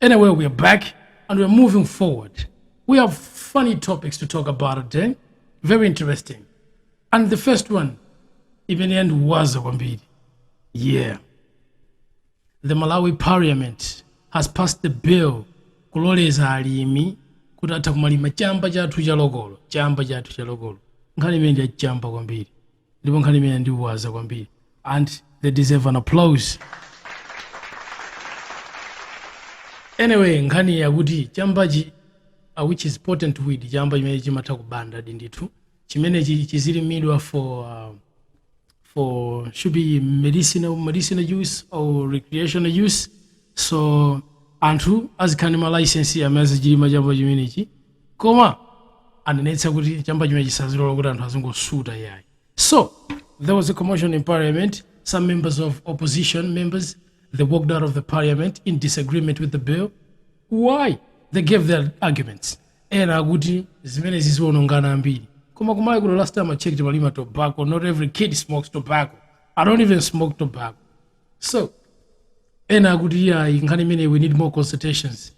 Anyway, we are back and we are moving forward. We have funny topics to talk about today. Very interesting. And the first one, even the end was Wambidi. Yeah. The Malawi Parliament has passed the bill kuloleza alimi kuti atha kumalima chamba chathu cha lokolo chamba chathu cha lokolo nkhani imene ndi yachamba kwambiri ndipo nkhani imene andiwaza kwambiri and they deserve an applause anyway nkhani yakuti chambachi uh, which is potent weed chamba chimene chimatha kubandadi ndithu chimenechi chizilimidwa for uh, for should be medicinal medicinal use or recreational use so anthu azikhala ndi ma license amene azichilima chamba chimenechi koma anenetsa kuti chamba chimenechi sazilola kuti anthu azingosuta yayi so there was a commotion in parliament some members of opposition members they walked out of the parliament in disagreement with the bill why they gave their arguments ena akuti zimenezi ziwononga ana ambiri koma ku malawi kuno last time i checked timalima tobacco not every kid smokes tobacco i don't even smoke tobacco so ena akuti iyayi nkhani imeneyi we need more consultations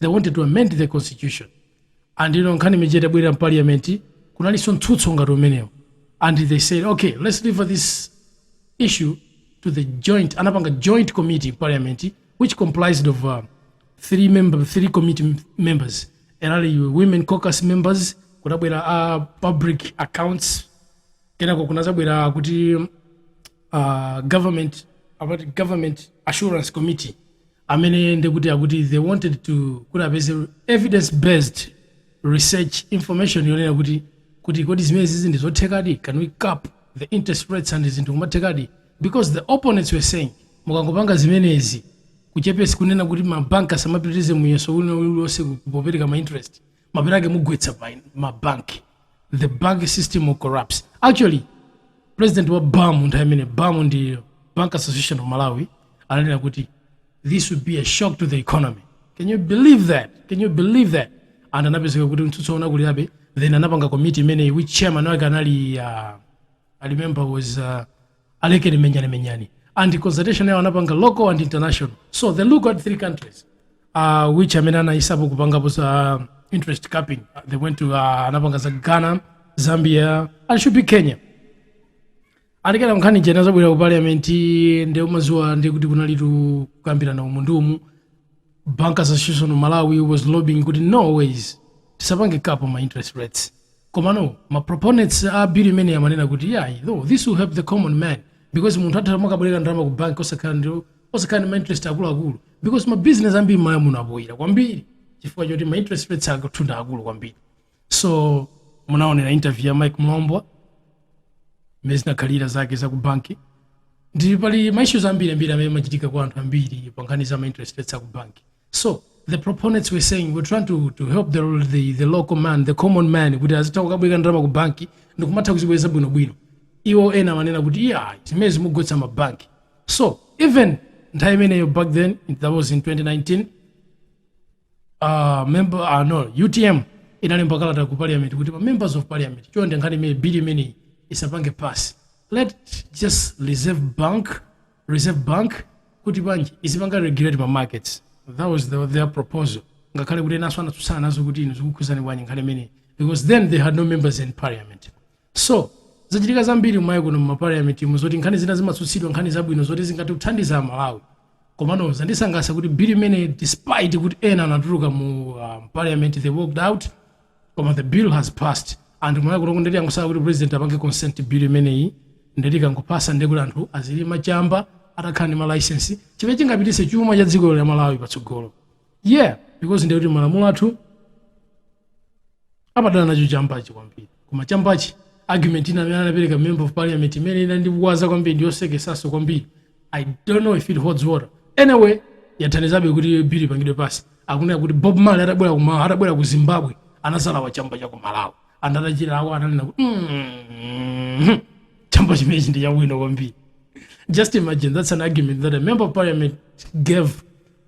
they wanted to amend the constitution and you know nkhani imene itabwera mu parliament kunalinso mtsutso ngati umenewo and they said okay let's leave this issue to the joint anapanga joint committee in parliament which comprised of uh, three member three committee m- members anali women caucus members kunabwera a public accounts kenako kunazabwera kuti uh, government about government assurance committee amene ndekuti akuti they wanted to kuti apeze evidence based research information yonena kuti kuti kodi zimenezizi ndi zothekadi can we cap the interest rates and zinthu kumathekadi because the opponents were saying mukangopanga zimenezi kuchepetsa kunena kuti mabanki asamapitirize muyeso uliwonse kupopereka ma interest mapeto ake mugwetsa mabanki the bank system will collapse actually president wa bam nthawi imene bam ndi bank association of malawi ananena kuti this would be a shock to the economy can you believe that can you believe that and anapezeka kuti mtsutso unakulirabe then anapanga committee imeneyi which chairman wake anali uh, i remember was uh, alekeni menyani menyani and consultation yawo anapanga local and international so they look at three countries uh, which amene anayesapo kupangapo za interest capping Uh, they went to uh, anapanga za ghana zambia and should be kenya and again nkhani ija inazabwera ku parliament nde umaziwa ndi kuti kunalitu kukambirana umu ndi umu bank association of malawi was lobbying kuti no ways tisapange cap ma interest rates komano ma proponents a bill imeneyi amanena kuti yayi though this will help the common man because munthu atha kumakabwereka ndalama ku bank osakhala ndi osakhala ndi ma interest akuluakulu because ma business ambiri mmalawi muno apoyira kwambiri chifukwa choti ma interest rates akwathu ndi akulu kwambiri so munaonera interview ya mike mlombwa mmene zinakhalira zake za ku banki ndi pali maissues ambiri ambiri amene amachitika kwa anthu ambiri pa nkhani za mainterest rates aku banki so the proponents were saying we're trying to, to help the, the, the local man the common man kuti azitha kukabwereka ndalama ku banki ndi kumatha kuzibweza bwinobwino iwo ena amanena kuti iyayi zimenezi mugwetsa mabanki so even nthawi imeneyo back then that was in 2019 uh, member uh, no utm inalemba kalata ku parliament kuti ma members of parliament chonde nkhani imeneyi bill imeneyi isapange pass let just the reserve bank reserve bank kuti mbanje izipanga regulate ma markets that was the, their proposal ngakhale kuti enanso anatsutsana nazo kuti inu zikukhuzani bwanji nkhani imeneyi because then they had no members in parliament So, zachitika zambiri kumalawi kuno mumapaliamentimu zoti nkhani zina zimatsutsidwa nkhani zabwino zoti zingathe kuthandiza amalawi komano zandisangalatsa kuti bill imene despite kuti ena anatuluka mu um, parliament they walked out koma the bill has passed and kumalawi kuno ndeti angosala kuti president apange consent bill imeneyi ndeti kangopasa ndekuti anthu azilima chamba atakhala ndi malicense chimene chingapititse chuma cha dziko la malawi patsogolo yeah because ndekuti malamulo athu amadana nacho chambachi kwambiri koma chambachi argument ina amene anapereka member of parliament imene inandikuwaza kwambiri ndiyosekesaso kwambiri i don't know if it holds water anyway yathandizabe kuti bill ipangidwe pasi akunena kuti bob marley atabwera kuma atabwera ku zimbabwe anazalawa chamba cha ku malawi and atachilawa ananena kuti "Mm, chamba chimenechi ndi chabwino kwambiri just imagine that's an argument that a member of parliament gave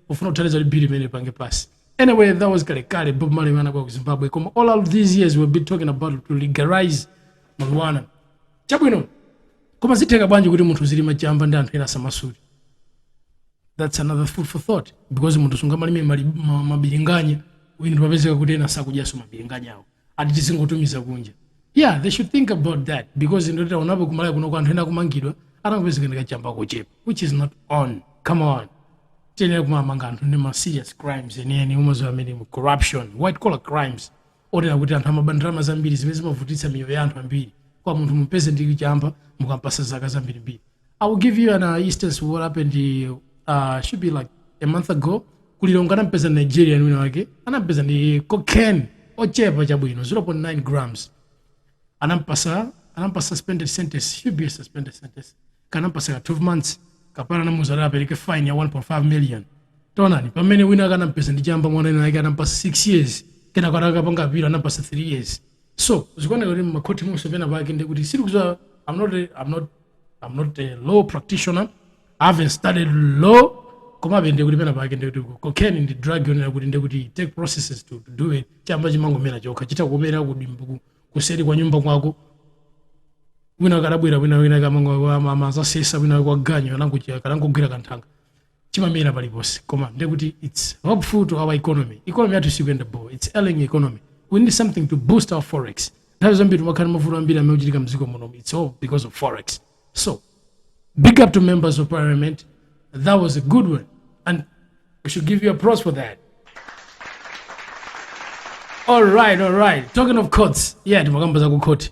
pofuna kuthandiza kuti bill imene ipange pasi Anyway, that was kale kale Bob Marley anabwera ku Zimbabwe. Koma all of these years we've been talking about to legalize marijuana. Chabwino. Koma zitheka bwanji kuti munthu uzilima chamba ndi anthu ena samasuta. That's another food for thought because munthu sungamalime mali- ma- mabilinganya uyu ndikupezeka kuti ena sakudyaso mabilinganya awo. ati tizingotumiza kunja yeah they should think about that because ndeti taonapo kumalawi kuno kuti anthu ena akumangidwa atangopezeka ndikachamba kochepa which is not on come on tiyenera kumamanga anthu ndi ma serious crimes enieni omwe azamene mu corruption white collar crimes otere kuti anthu amaba ndalama zambiri zimene zimavutitsa miyoyo ya anthu ambiri koma munthu mumpeze ndi chamba mukampasa zaka zambirimbiri I will give you an uh, instance what happened uh, should be like a month ago ku Lilongwe anampeza nigerian wina wake anampeza ndi cocaine ochepa chabwino 0.9 grams anampasa anampasa suspended sentence should be a suspended sentence kaya anampasa ka 12 months kapana anamuza kuti apereke fine ya 1.5 million taonani pamene wina wake anampeza ndi chamba mwana wina wake anampasa 6 years kenaka atakapanga apilo anampasa 3 years so zikuoneka kuti makhoti monse pena pake ndikuti sizikuza i'm not i'm not I'm not a law practitioner. I haven't studied law. Koma be ndikuti pena pake ndikuti cocaine ndi drug yonena kuti ndikuti it take processes to, to do it. Chamba chimangomera chokha chitha kumera kudimbu ku- kuseri kwa nyumba kwako. Mwina kadabwera wina wina akamango amazasesa wina wa ganyo anangosiya kanangogwera kanthanga. chimamera paliponse koma nde kuti its helpful to our economy economy yathu sikuyenda bo its ailing economy we need something to boost our forex nthawi zambiri timakhala ndi mavuto ambiri amene amachitika mdziko muno its all because of forex so big up to members of parliament that was a good one and we should give you applause for that all right all right talking of courts yeah timakamba za ku court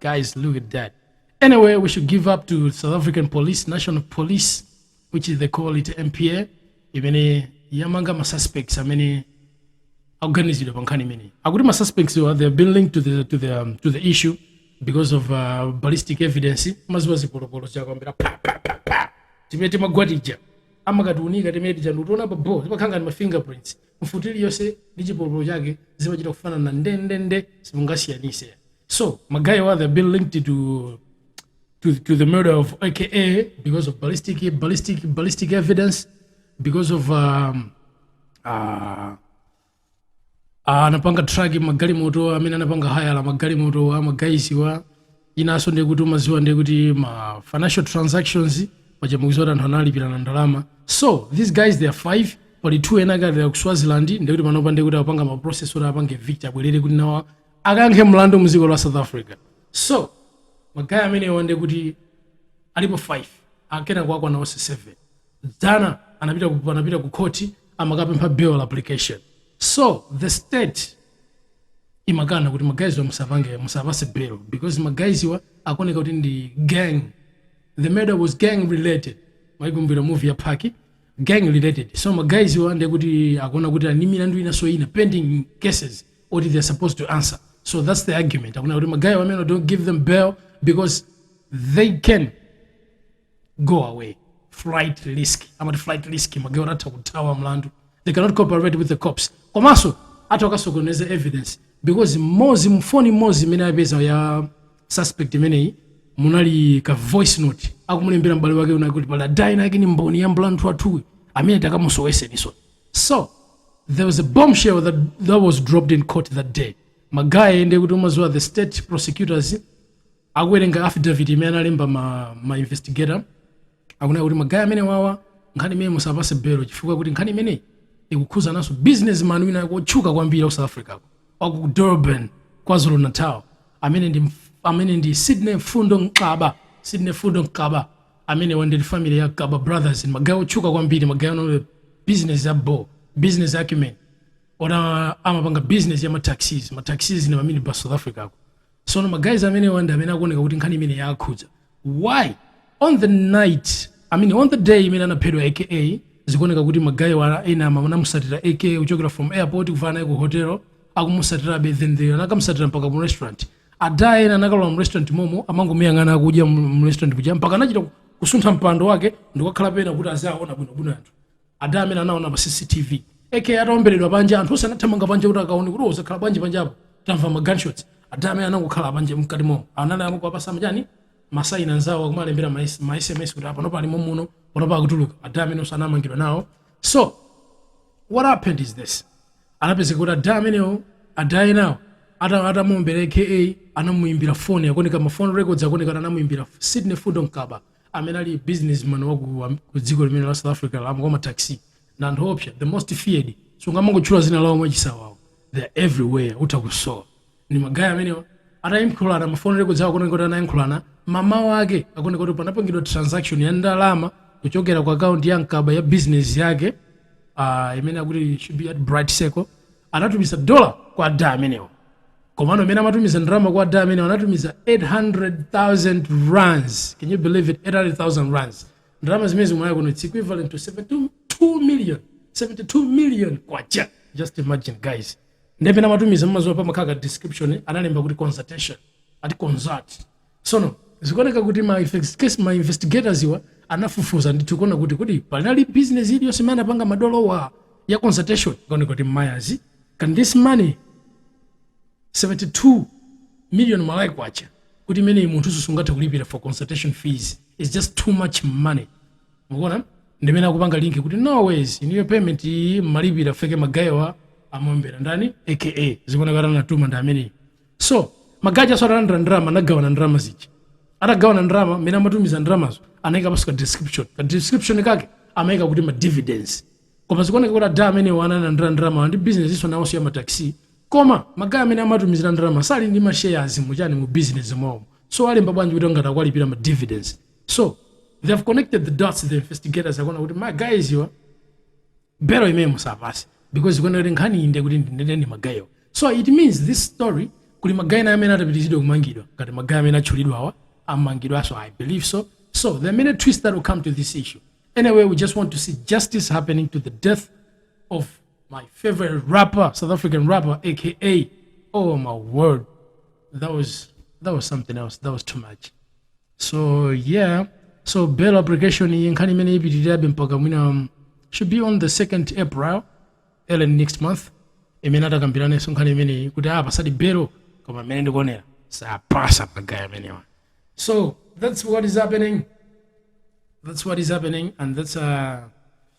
guys look at that anyway we should give up to south african police national police which is they call it mpa imene yamanga ma suspects amene akuganizidwa pa nkhani imeneyi akuti ma suspectswa they have been linked to the, to the, um, to the issue because of uh, ballistic evidence mumaziwa zipolopolo chakwambira pa pa pa pa timene timagwa tija amakatiunika timene tija ndikutiona pa bo timakhala ndi ma fingerprints Mfuti iliyonse ndi chipolopolo chake zimachita kufanana ndendende simungasiyanise so ma guywa they've been linked to to, to the murder of aka because of ballistic ballistic ballistic evidence because of um, uh, anapanga track magalimoto amene anapanga hayala magalimoto a ma guyswa inanso ndiye kuti umaziwa ndiye kuti ma financial transactions paja mukuziwa kuti anthu analipirana ndalama so these guys they are five pali two ena akadali ku swaziland ndiye kuti panopa ndiye kuti akupanga ma process oti apange evict abwerere kuti nawo akayankhe mlandu mu dziko la south africa so ma guy amenewa ndiye kuti alipo 5 akanakwana onse 7 dzana anapita ku, anapita ku court amakapempha bail application so the state imakana kuti ma guyswa musapange musapase bail because ma guyswa akuoneka kuti ndi gang the murder was gang related mwaikumbukira movie ya Pac gang related so ma guyswa ndiye kuti akuona kuti ali ndi milandu inaso ina pending cases oti they are supposed to answer so that's the argument akuona kuti ma guy amenewa don't give them bail because they can go away flight risk amati flight risk ma guywo atha kuthawa mlandu they cannot cooperate with the cops komanso atha kukasokoneza evidence because mmodzi mfoni mmodzi imene apeza ya suspect imeneyi munali ka voice note akumulembera m'bale wake kunena kuti pali lady winawake ndi mboni ya mlandu wathuwu amene takamusoweseniso so there was a bombshell that, that was dropped in court that day ma guy ndiye kuti umaziwa the state prosecutors Akuwerenga affidavit imene analemba ma ma investigator akunena kuti ma guy amenewawa nkhani imeneyi musawapase bail chifukwa kuti nkhani imeneyi ikukhuzanso business man wina wake wotchuka kwambiri wa ku South Africa ko wa ku Durban Kwazulu Natal amene ndi amene ndi Sydney Mfundo Gcaba Sydney Mfundo Gcaba amenewa ndi family ya Gcaba brothers ndi ma guy otchuka kwambiri ma guy ali ndi business ya bho business acumen oti amapanga business ya ma taxis ma taxis ndi ma minibus South Africa ko sono ma guys amenewa ndi amene akuoneka kuti nkhani imene yaakhudza why on the night i mean on the day imene anaphedwa aka zikuoneka kuti magayewa ena ama anamusatira aka kuchokera from airport kufika naye ku hotel akumusatirabe then they anakamusatira mpaka mu restaurant ada ena anakalowa mu restaurant momo amangomuyang'ana akudya mu mu restaurant kuja mpaka anachita kusuntha mpando wake ndikukakhala pena kuti aziwaona bwinobwino anthu ada amene anaona pa cctv aka ataomberedwa panja anthu onse anathamanga panja kuti akaone kuti zakhala bwanji panjapo tamva ma gunshots ada amene anangokhala panja mkati mo anali akuwapatsa machani ma sign nzawo akumalembera ma S- ma sms kuti panopa ali momuno panopa akutuluka ada amenewonso anamangidwa nawo so what happened is this anapezeka kuti ada amenewo ada enawo ata- atamuombera aka anamuimbira foni akuoneka ma phone records akuoneka kuti anamuimbira sydney mfundo gcaba amene ali businessman wa ku am- ku dziko limene la south africa lamo kwa mataxi na anthu oopsa the most feared sungamangotchula dzina lawo mwachisawawo they are everywhere utha kusowa ndi magaye amenewa atayankhulana ma phone records awa akuoneka kuti anayankhulana mmawa wake akuoneka kuti panapangidwa transaction ya ndalama kuchokera ku akaunti ya gcaba ya business yake uh, imene akuti should be at bright circle anatumiza dola kwa ada amenewa komano mmene amatumiza ndalama kwa ada amenewa anatumiza 800000 rands can you believe it 800000 rands ndalama zimenezi mwa ya kuno it's equivalent to 72 million 72 million kwacha just imagine guys nde pamene amatumiza mumadziwa pamakhala ka description analemba kuti consultation ati consult sono zikuoneka kuti ma effects- case- ma investigators iwa anafufuza ndithu kuona kuti kuti panali business iliyonse imene anapanga madolowa ya consultation ikaoneka kuti mayazi coz this money 72 million malawi kwacha kuti imeneyi munthu sungathe kulipira for consultation fees is just too much money mukuona ndi mmene akupanga link kuti no ways inuyo payment iyi mmalipira after magayewa amuombera ndani aka zikuoneka kuti anatuma ndi ameneyi so magaye aja so atalandira ndalama anagawana ndalama zija atagawana ndalama mmene amatumiza ndalamazo anayika panso ka description ka description kake amayika kuti ma dividends koma zikuoneka kuti ada amenewa analandira ndalama ndi business nso nawonso ya mataxi koma magaye amene amatumizira ndalama sali ndi ma shares muchani mu business mwawo so alemba bwanji kuti ngati akuwalipira ma dividends so they have connected the dots the investigators akuona kuti ma guys iwa bail imeneyi musawapatse because zikuoneka kuti nkhani iyi ndekuti ndinene ndi magayewa so it means this story kuli magaye ena amene atapitizidwe kumangidwa ngati magaye amene atchulidwawa amangidwanso i believe so so there are many twists that will come to this issue anyway we just want to see justice happening to the death of my favorite rapper south african rapper aka oh my word that was that was something else that was too much so yeah so bail application iyi nkhani imene ipitirirabe mpaka mwina um, should be on the 2nd april elen next month imene atakambiranenso nkhani imeneyi kuti apa apatsidwe belo koma imene ndikuonera sapasa agaya amenewa so that's what is happening that's what is happening and that's uh,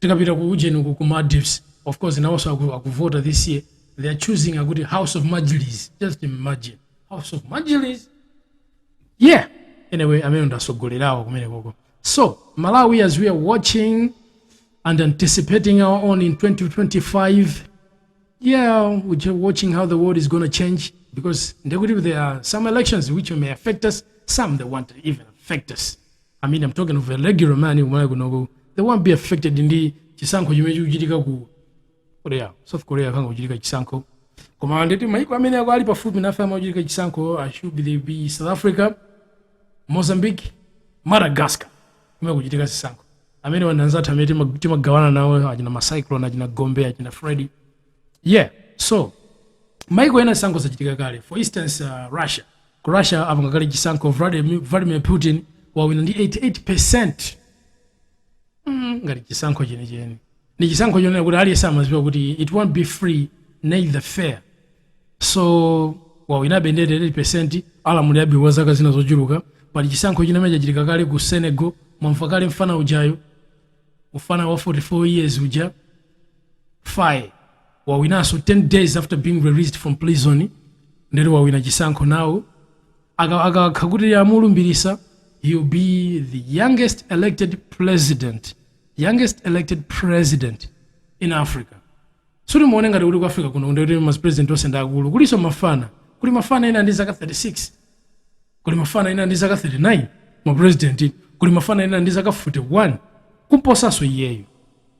Tikapita ku ujeni uku ku Maldives of course nawoso aku, akuvota this year they are choosing akuti house of majlis just imagine house of majlis yeah anyway amene ndasogolerawo kumene koko so malawi as we are watching and anticipating our own in 2025 yeah we're just watching how the world is going to change because ndekuti there are some elections which may affect us some they won't even affect us I mean, I'm talking of a regular man in Malawi kunoko. They won't be affected ndi chisankho chimene chikuchitika ku Korea. South Korea kukachitika chisankho. Koma ndiye kuti maiko amene ali pafupi nafe kumachitika chisankho should be South Africa, Mozambique, Madagascar. Kumene kuchitika zisankho. Amene anzathu amene tima- timagawana nawo achina ma Cyclone, achina Gombe, achina Freddy. Yeah, so maiko ena zisankho zachitika kale for instance uh, russia Ku Russia apanga kale chisankho Vladimir Putin wawina ndi 88%. Hmm, ngati chisankho chenicheni. Ndi chisankho chonena kuti aliyense amadziwa kuti it won't be free neither fair. So wawinabe ndi 88% alamulirabe kwa zaka zina zochuluka. Pali chisankho china chimene chachitika kale ku Senegal, mwamva kale mfana ujayu, mfana wa 44 years uja, Faye. wawinanso 10 days after being released from prison ndiye kuti wawina chisankho nawo Aka- akakhala kuti amulumbirisa he will be the youngest elected president in africa sikuti muone ngati kuti ku africa kuno ndikuti ma president onse ndi akulu kulinso mafana kuli mafana ena ndi zaka 36 kuli mafana ena ndi zaka 39 ma president kuli mafana ena ndi zaka 41 kumposanso iyeyo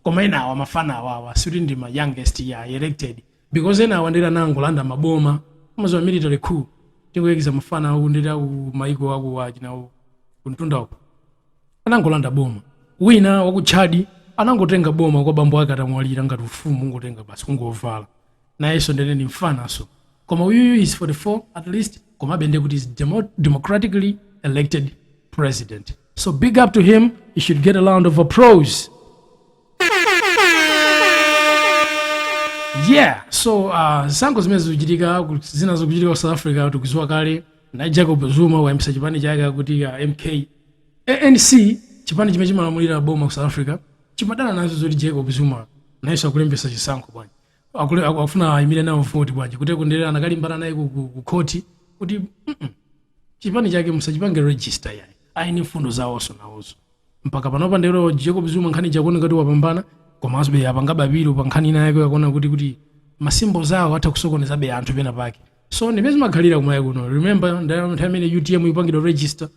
Koma enawa mafana awawa sikuti ndi ma youngest elected because enawa ndiye kuti anangolanda ma boma umaziwa military coup tingoyekiza mafana aku ndiye kuti aku maiko aku achina kuntunda uko anangolanda boma wina waku Chad anangotenga boma kwa bambo ake atamwalira ngati ufumu kungotenga basi kungovala nayenso ndiye kuti ndi mfananso koma uyuyu is 44 at least komabe ndekuti is demo, democratically elected president. So big up to him, he should get a round of applause. yeah so uh, zisankho zimene zikuchitika ku- zina zikuchitika ku south africa tikuziwa kale naye jacob zuma wayambisa chipani chake akuti uh, mk anc chipani chimene chimalamulira boma ku south africa chimadana nazo zoti jacob zuma nayenso akulembesa chisankho bwanji akule aku- akufuna ayimire nawo voti bwanji kuti ndiye anakalimbana naye ku- ku ku khoti kuti "Mm-mm, chipani chake musachipange register iyayi ayini mfundo zawonso nawonso mpaka panopa ndero jacob zuma nkhani ikuoneka ngati wapambana komansobe apanga apilo pa nkhani ina yake yonena kuti kuti masimbo zawo atha kusokonezabe anthu pena pake so ndi mmene zimakhalira kumaiko kuno remember nthawi imene utm ikupangidwa register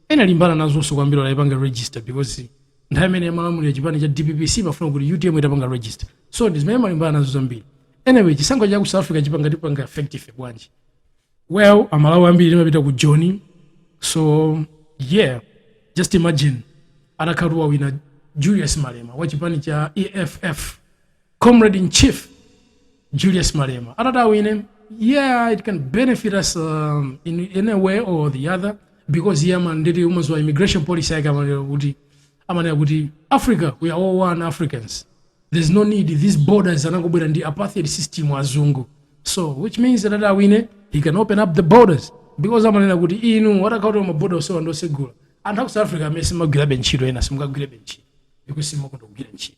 analimbana nazonso kwambiri kuipanga register because nthawi imene amalamulira chipani cha dpp sichimafuna kuti utm itapanga register so ndi zimene amalimbana nazo zambiri anyway chisankho cha ku south africa chipanga tipanga affect ife bwanji well amalawi ambiri timapita ku joni so yeah just imagine atakhala kuti wawina julius malema wa chipani cha eff Comrade in Chief Julius Malema atati awine yeah it can benefit us um, in, in a way or the other because iye ama ndiye umaziwa immigration policy yake amanena kuti amanena kuti africa we are all one africans there's no need these borders anangobwera ndi apartheid system azungu so which means that awine he can open up the borders because amanena kuti inu atakhala kuti maboda onsewa ndosegula anthu aku south africa amene samagwirabe ntchito ena simukagwirabe ntchito because simukufuna kugwira ntchito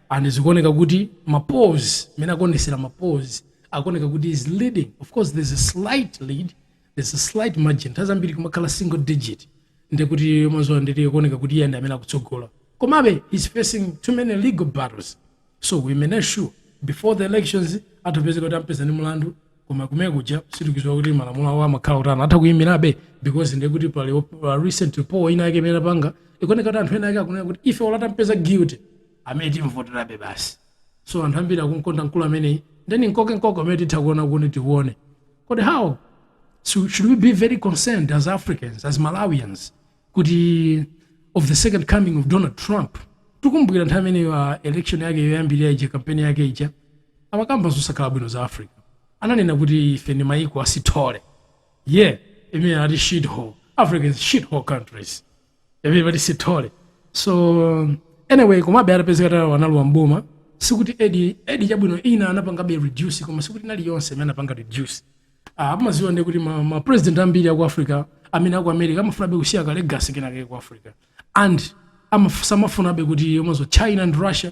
and zikuoneka kuti ma polls mmene akuonesera ma polls akuoneka kuti is leading of course there's a slight lead there's a slight margin nthawi zambiri kumakhala single digit ndiye kuti mazuwa ndiye zikuoneka kuti iye ndi amene akutsogola komabe he's facing too many legal battles so we may not sure before the elections atapezeka kuti ampeza ndi mlandu koma kumenekuja sitikuziwa kuti malamulo awo amakhala otani atha kuyimirabe because ndiye kuti pali op- pa recent poll ina yake imene apanga ikuoneka kuti anthu ena ake akunena kuti ife ola atampeza guilty ameneyo timvoterabe basi so anthu ambiri akunkonda mkulu ameneyi then nkoke nkoke amene titha kuona kuti tione kodi how so should we be very concerned as africans as malawians kuti of the second coming of donald trump tikukumbukira nthawi imeneyo a election yake yoyambirira ija kampeni yake ija amakamba zosakhala bwino za africa ananena kuti ife ndi mayiko a shithole yeah imene anati shithole africa's shithole countries everybody shithole so anyway komabe atapezeka atalowa analowa m'boma sikuti aid aid chabwino ina anapangabe reduce koma sikuti inali yonse imene anapanga reduce ah, amaziwa ndiye kuti ma, ma president ambiri aku africa amene aku america amafunabe kusiya ka legacy kenakake ku africa and amaf- samafunabe kuti mwazo china and russia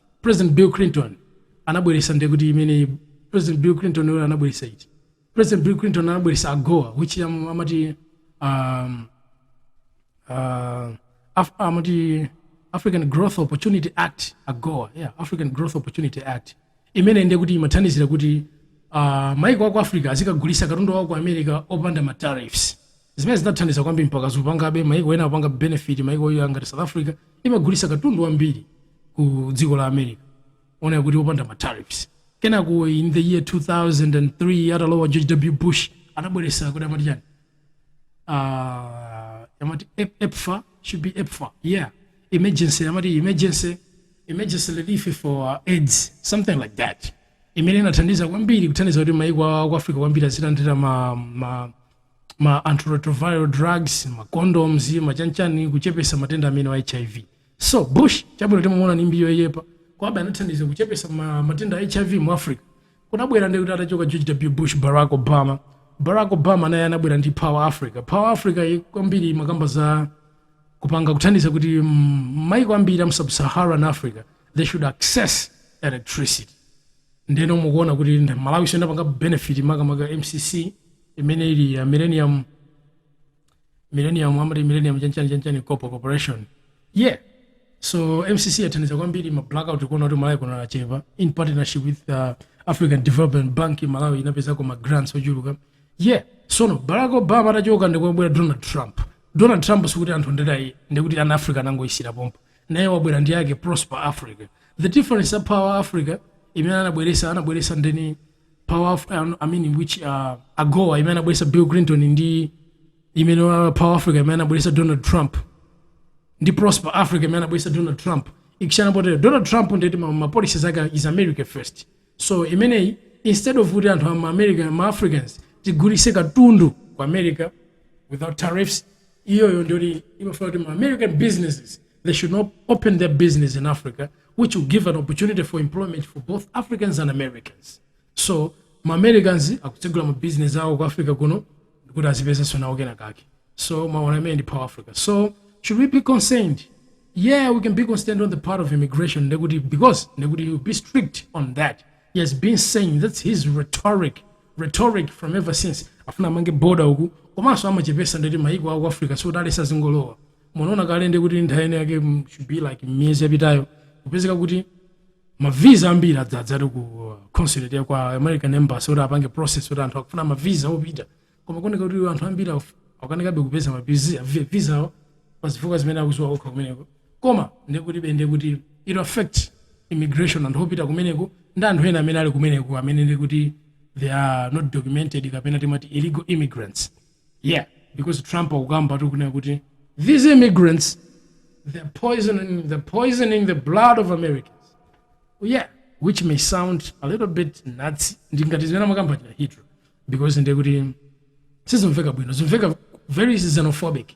president bill clinton anabweresa ndiye kuti imene president bill clinton yo anabweresa iti president bill clinton anabweresa agoa which am- amati um, uh, Af- amati african growth opportunity act agoa yeah, african growth opportunity act imene ndiye kuti imathandizira kuti uh, maiko aku africa azikagulisa katundu wawo ku america opanda ma tariffs zimene zinathandiza kwambiri mpaka zikupangabe maiko ena akupanga benefit maiko onga ngati south africa imagulisa katundu wambiri ku dziko la america onena kuti opanda ma tariffs kenako in the year 2003 atalowa george w bush anabweresa kuti amati chani uh, amati Ep- pepfar should be pepfar yeah emergency amati emergency emergency relief for uh, aids something like that imene inathandiza kwambiri kuthandiza kuti maiko a ku africa kwambiri azilandira ma, ma, ma antiretroviral drugs, ma condoms, ma chanchani kuchepesa matenda amenewa a HIV. So, Bush, chabwino timamuona ni mbiri yoipa, komabe anathandiza kuchepesa ma, matenda a HIV mu Africa. Kunabwera ndi kuti atachoka George W. Bush, Barack Obama. Barack Obama naye anabwera ndi Power Africa. Power Africa ye- kwambiri imakamba za kupanga kuthandiza kuti mm, maiko ambiri a mu sub-Saharan Africa they should access electricity. ndeno mukuona kuti nda- malawi siyo ndapanga benefit makamaka mcc imene ili ya millennium millennium amati millennium chanchani chanchani corpo corporation yeah so mcc yathandiza kwambiri ma blackout mukuona kuti malawi kuno achepa in partnership with uh, african development bank malawi inapezako ma grants ochuluka yeah sono barack obama atachoka ndikubwera donald trump donald trump sikuti anthu anditaye ndiye kuti Africa anangoyisiyira pompo naye wabwera ndi yake prosper africa the difference ya power africa imene anabweresa anabweresa ndeni powerful I don't- I mean which uh, agoa imene anabweresa bill clinton ndi imene uh, power africa imene anabweresa donald trump ndi prosper africa imene anabweresa donald trump ikusiyana poti donald trump nde kuti ma, ma policies ake is america first so imeneyi instead of kuti anthu ama america ma africans tigulitse katundu ku america without tariffs iyoyo ndiyoti imafuna kuti ma american businesses They should now open their business in Africa, which will give an opportunity for employment for both Africans and Americans. So, ma Americans akutsegula ma business awo ku Africa kuno kuti azipezenso nawo kena kake. So, mwaona amene ndi power Africa. So, should we be concerned? Yeah, we can be concerned on the part of immigration ndekuti because ndekuti he'll be strict on that. He has been saying that's his rhetoric rhetoric from ever since afuna amange border uku komanso achepesa nde kuti maiko aku africa sikuti aletsa azingolowa munaona kale ndi kuti nthawi inayake mm, should be like miyezi yapitayo kupezeka kuti mavisa ambiri adzadza ku uh, consulate ya kwa american embassy kuti apange process kuti anthu akufuna mavisa opita koma kuoneka kuti anthu ambiri akuf- akukanikabe kupeza mavisa visa awo pa zifukwa zimene akuziwa okha kumeneko koma ndikukhulupirira ndi kuti it'll affect immigration anthu opita kumeneko ndi anthu ena amene ali kumeneko amene ndi kuti they are not documented kapena timati illegal immigrants Yeah because Trump akukamba akunena kuti these immigrants they're poisoning, they're poisoning the blood of Americans. Well, yeah, which may sound a little bit Nazi ndingati zimene amakamba achina Hitler because ndekuti sizimveka bwino zimveka very xenophobic